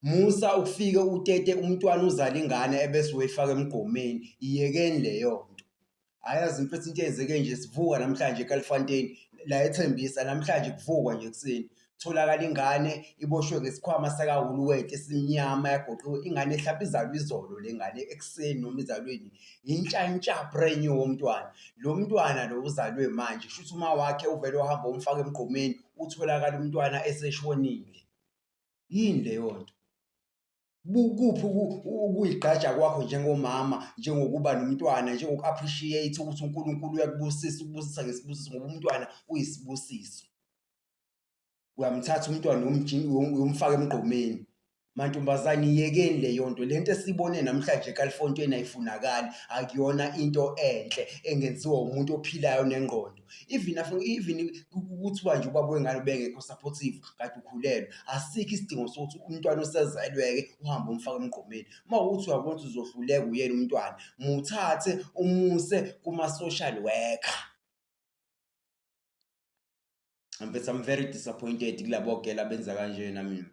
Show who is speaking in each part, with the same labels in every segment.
Speaker 1: Musa ukufike utete umntwana uzala ingane ebese uyifaka emgqomeni iyekeni leyo nto ayazi mfethu into eyenzeke nje sivuka namhlanje eKalifontein la ethembisa namhlanje kuvukwa nje ekuseni tholakala ingane iboshwe ngesikhwama sakahuluweti esimnyama yagoqiwe ingane ehlapha izalwa izolo le ngane ekuseni noma izalweni yintshantsha brand new womntwana lo mntwana lo uzalwe manje kusho ukuthi uma wakhe uvele uhamba umfaka emgqomeni utholakala umntwana eseshonile yini leyo nto bukuphi ukuyigqaja kwakho njengomama njengokuba nomntwana njengoku-appreciate ukuthi unkulunkulu uyakubusisa ukubusisa ngesibusiso ngoba umntwana uyisibusiso uyamthatha umntwana uyomfaka emgqomeni mantombazane iyekeni leyo nto le nto esiyibone namhlanje ekalifontweni ayifunakali akuyona into enhle engenziwa umuntu ophilayo nengqondo even even kuthiwa nje ubaba wengane ubengekho supportive kade ukhulelwe asikho isidingo sokuthi umntwana osezelweke uhambe umfaka emgqomeni uma ukuthi uyabona ukuthi uzohluleka uyena umntwana muthathe umuse kuma-social worker mfethu i'm very disappointed kulabo gela benza kanjena mina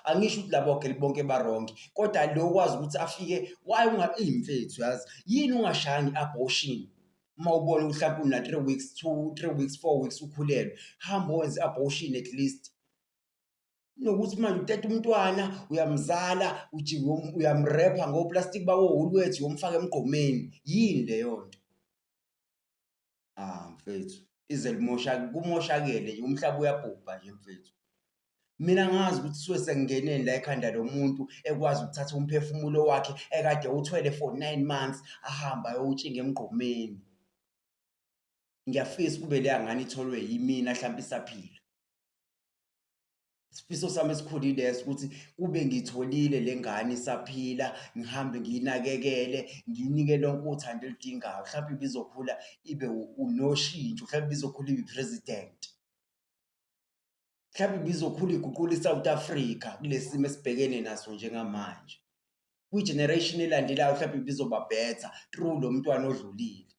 Speaker 1: angisho ukuthi labo geli bonke baronke kodwa lo kwazi ukuthi afike waye ungaimfethu yazi yini ungashayanga i-abortion uma ubona mhlawumbe una three weeks two three weeks four weeks ukhulelwe hamba wenze abortion at least nokuthi manje uteta umntwana uyamzala ujike uyamrepha ngoplastic bawo ulwethi womfaka emgqomeni yini leyo nto ah mfethu ize limoshake kumoshakele nje umhlaba uyabhubha nje mfethu Mina ngazi ukuthi suke sekungeneni la ekhanda lomuntu ekwazi ukuthatha umphefumulo wakhe ekade uthwele for nine months ahamba ayowutshinga emgqomeni. Ngiyafisa kube leya ngane itholwe yimina hlampe isaphila. Isifiso sami esikhulu ileso ukuthi kube ngitholile le ngane isaphila, ngihambe ngiyinakekele, ngiyinike lonke uthando eludingayo. Hlampe ibizokhula ibe unoshintsho, hlampe ibizokhula ibe i-president. mhlawumbe ibizokhula iguqula iSouth Africa kulesimo esibhekene naso njengamanje kwigeneration elandelayo mhlawumbe ibizoba better through lo mntwana odlulile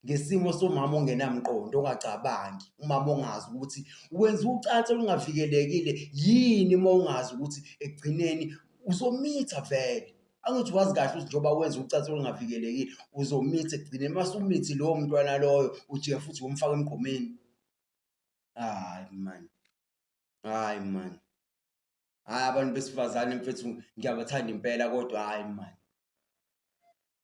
Speaker 1: ngesimo somama ongenamqondo ongacabangi umama ongazi ukuthi wenza ucansi olungavikelekile yini uma ungazi ukuthi ekugcineni uzomitha vele angithi wazi kahle ukuthi njengoba wenza ucansi olungavikelekile uzomitha ekugcineni uma sumithi lowo mntwana loyo ujeya futhi womfaka emgqomeni hayi mani hayi mani hayi abantu besifazane mfethu ngiyabathanda impela kodwa hayi mani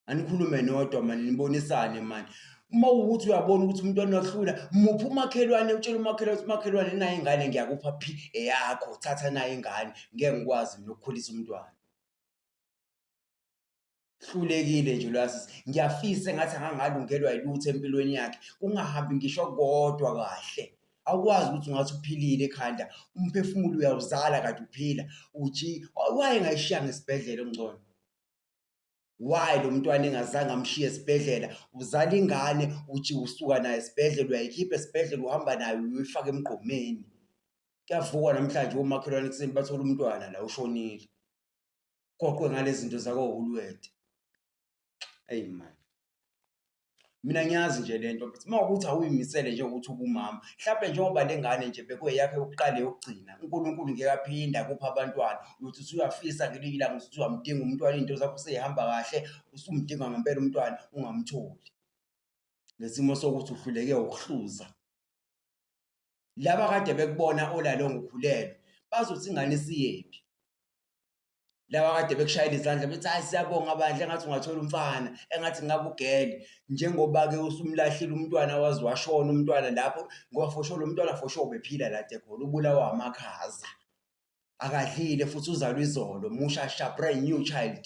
Speaker 1: anikhulume nodwa mani nibonisane mani uma ukuthi uyabona ukuthi umuntu anohlula muphi umakhelwane utshela umakhelwane ukuthi umakhelwane nayo ingane ngiyakupha phi eyakho thatha nayo ingane ngeke ngikwazi mina ukukhulisa umntwana hlulekile nje lwasisi ngiyafisa engathi angangalungelwa yilutho empilweni yakhe kungahambi ngisho kodwa kahle awukwazi ukuthi ungathi uphilile ekhanda umphefumulo uyawuzala kade uphila uji waye ngayishiya ngesibhedlela ongcono why lo mntwana engazange amshiye esibhedlela uzala ingane uthi usuka naye esibhedlela uyayikhipha esibhedlela uhamba nayo uyifaka emgqomeni kuyavukwa namhlanje omakhelwane kuseni bathola umntwana la ushonile goqwe ngalezinto zakohulwethe eyi mani mina ngiyazi nje lento but uma ukuthi awuyimisele nje ukuthi ubumama mhlawumbe njengoba le ngane nje bekuyeyakhe yokuqala yokugcina unkulunkulu ngeke aphinde akuphe abantwana uyothi usuyafisa ngelinye ilanga ukuthi uzamdinga umntwana iy'nto zakho seyihamba kahle usumdinga ngempela umntwana ungamtholi ngesimo sokuthi uhluleke ukuhluza laba kade bekubona olalo ngikhulelwe bazothi ingane isiyephi laba kade bekushayela izandla bethi hayi siyabonga bandla engathi ungathola umfana engathi ngingakugele njengoba-ke usumlahlile umntwana waze washona umntwana lapho ngoba fosho lo mntwana fosho ubephila lade khona ubulawa amakhaza akadlile futhi uzalwa izolo musha sha brand new child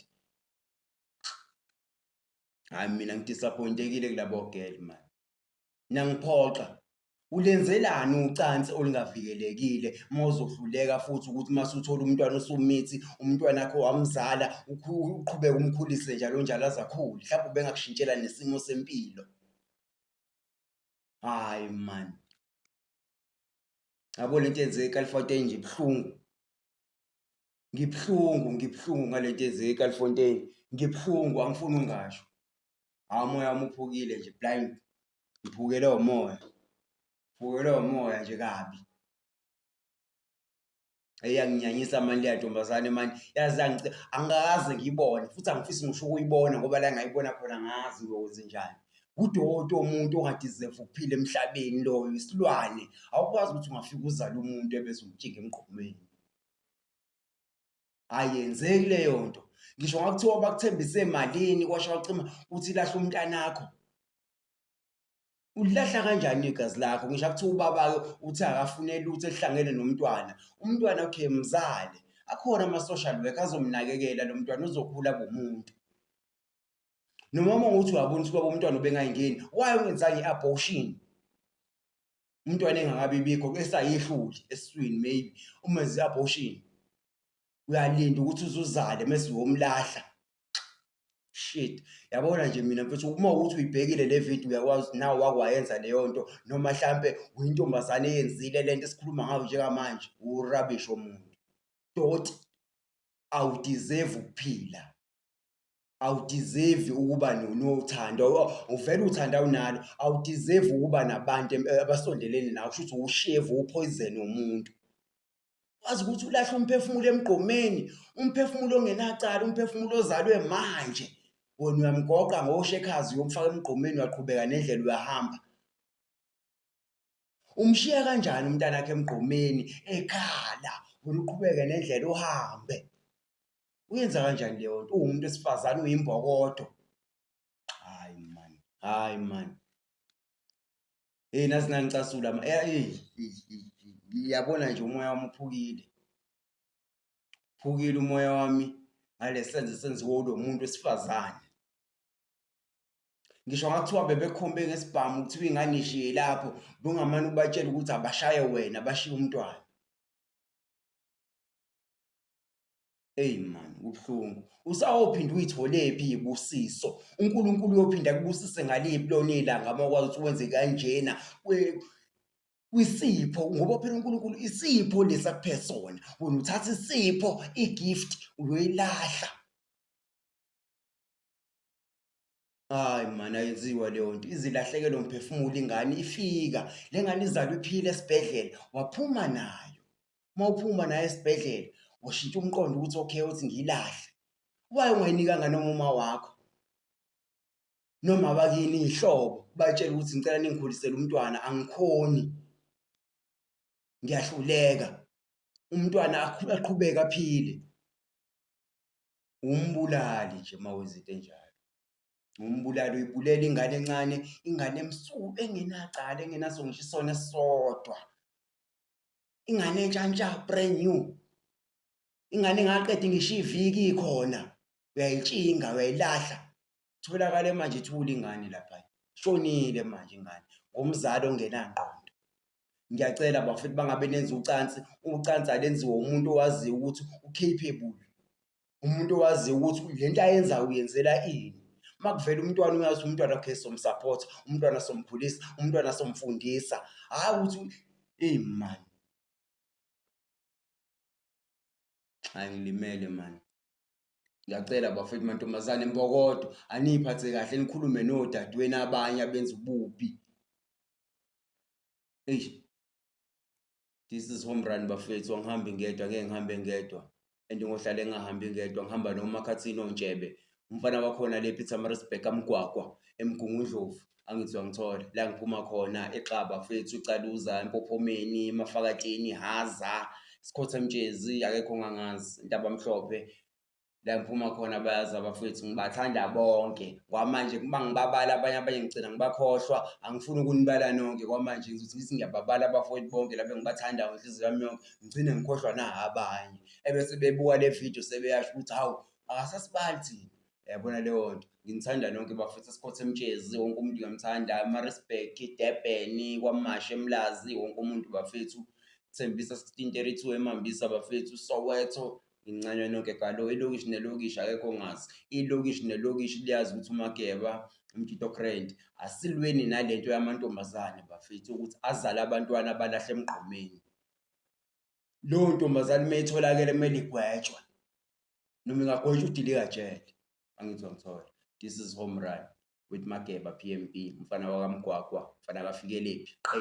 Speaker 1: hayi mina ngidisappointekile kulabo girl mani nangiphoxa ulenzelani ucansi olungavikelekile uma uzohluleka futhi ukuthi uma suthola umntwana usumithi umntwana wakho wamzala uqhubeke umkhulise njalo njalo azakhule mhlawumbe ubengakushintshela nesimo sempilo hayi man yabo lento yenzeka ekalifoteni nje buhlungu ngibuhlungu ngibuhlungu ngale nto eze eCalifontein ngibuhlungu angifuni ungasho hawu umoya wami uphukile nje blind ngiphukele umoya ngiphukelwe umoya nje kabi eyanginyanyisa mani leya ntombazane mani yazi yangici angikaze ngiyibone futhi angifisi ngisho ukuyibona ngoba la ngayibona khona ngazi ngiyokwenze njani kudoti omuntu ongadizeva ukuphila emhlabeni loyo isilwane awukwazi ukuthi ungafika uzale umuntu ebese umjinga emgqomeni ayenzeki leyo nto ngisho ngakuthiwa bakuthembise malini kwasho wacima uthi lahla umntanakho ulilahla kanjani igazi lakho ngisho akuthiwa ubaba-ke uthi akafune lutho elihlangene nomntwana umntwana okay mzale akhona ama-social work azomnakekela lo mntwana uzokhula bomuntu nomama ukuthi uyabona ukuthi baba umntwana ubengayingeni why ungenzanga i-abortion umntwana engakabi bikho esayihluli esiswini maybe uma zi abortion uyalinda ukuthi uzuzale mase womlahla shit yabona nje mina mfethu uma ukuthi uyibhekile le video uyakwazi ukuthi nawe wakwayenza leyo nto noma mhlampe uyintombazane eyenzile lento esikhuluma ngayo njengamanje urubbish omuntu doti awudeserve ukuphila awudeserve ukuba nothando uvele uthanda awunalo awudeserve ukuba nabantu abasondelene nawe kusho ukuthi uwushevu uphoyizeni womuntu wazi ukuthi ulahle umphefumulo emgqomeni umphefumulo ongenacala umphefumulo ozalwe manje wena uyamgoqa ngoshekhazi uyomfaka emgqomeni uyaqhubeka nendlela uyahamba Umshiya kanjani umntanakhe emgqomeni ekhala wena uqhubeke nendlela uhambe? Uyenza kanjani leyo nto uwumuntu wesifazane uyimbokodo? Hayi man, hayi man. Hey nazi nangicasula ma eh, hey ngiyabona nje umoya wami uphukile. Uphukile umoya wami ngalesenzo esenziwe ulo muntu wesifazane. ngisho ngathiwa bebekhombe ngesibhamu kuthiwa ingane ishiye lapho bungamane ubatshela ukuthi abashaye wena bashiye umntwana eyi man kubuhlungu usawophinda uyitholephi ibusiso unkulunkulu uyophinda kubusise ngaliphi lona ilanga uma kwazi ukuthi wenze kanjena kwisipho ngoba phela unkulunkulu isipho lesi akuphe sona wena uthatha isipho igift uyoyilahla Hayi mani ayenziwa leyo nto izilahlekele umphefumulo ingane ifika le ngane izalwa iphile esibhedlela waphuma nayo uma uphuma nayo esibhedlela washintsha umqondo ukuthi okay uthi ngiyilahle waye ungayinikanga noma uma wakho noma bakini ihlobo batshela ukuthi ngicela ningikhulisele umntwana angikhoni ngiyahluleka umntwana aqhubeke aphile uwumbulali nje mawenza into enjalo. Uwumbulali uyibulela ingane encane, ingane emsuku engenacala engenaso ngisho isona esisodwa. Ingane entsha ntsha brand new. Ingane engaqedi ngisho iviki ikhona uyayitshinga uyayilahla Tholakale manje ithule ingane lapha. Shonile manje ingane ngomzali ongenangqondo. Ngiyacela bafethu bangabe nenza ucansi, ucansi alenziwe umuntu owaziyo ukuthi u-capable. Umuntu owaziyo ukuthi le nto ayenzayo uyenzela ini. Uma kuvela umntwana uyazi umntwana okay somsupport, umntwana somkhulisa, umntwana somfundisa. Hhayi ukuthi eyi mani. Angilimele mani. Ngiyacela bafethu mantombazane mbokodo aniyiphathe kahle nikhulume nodadewenu abanye abenza ububi. Eish. This is home run bafethu angihambi ngedwa ngeke ngihambe ngedwa and ngohlale ngingahambi ngedwa ngihamba nomakhathini ontshebe umfana wakhona le Pietermaritzburg amgwagwa emgungundlovu Angizwa ngithole la ngiphuma khona eXaba fethu uCaluza eMpophomeni eMafakatsheni Haza Sikhotha Mtshezi akekho ongangazi Ntabamhlophe la ngiphuma khona bayazi abafethu ngibathanda bonke kwamanje uma ngibabala abanye abanye ngigcina ngibakhohlwa angifuni ukunibala nonke kwamanje ngizothi ngithi ngiyababala abafowethu bonke laba engibathandayo ngenhliziyo yami yonke ngigcine ngikhohlwa na abanye ebese bebuka le video sebeyasho ukuthi hawu akasasibali thina yabona leyo nto nginithanda nonke bafethu esikhotha emtshezi wonke umuntu uyamthanda amarisburg idurban kwamashi emlazi wonke umuntu bafethu thembisa 1632 emambisa bafethu soweto ngincanywa nonke galo ilokishi nelokishi akekho ngazi ilokishi nelokishi liyazi ukuthi umakeba umtshito crent asilweni nalento yamantombazane bafethu ukuthi azale abantwana abalahle emgqomeni leyo ntombazane uma itholakele kumele igwetshwe noma ingagwetshwa udilika jele angithi wangithola this is home run with mageba p m p umfana wakamgwagwa mfana kafikeliphi qe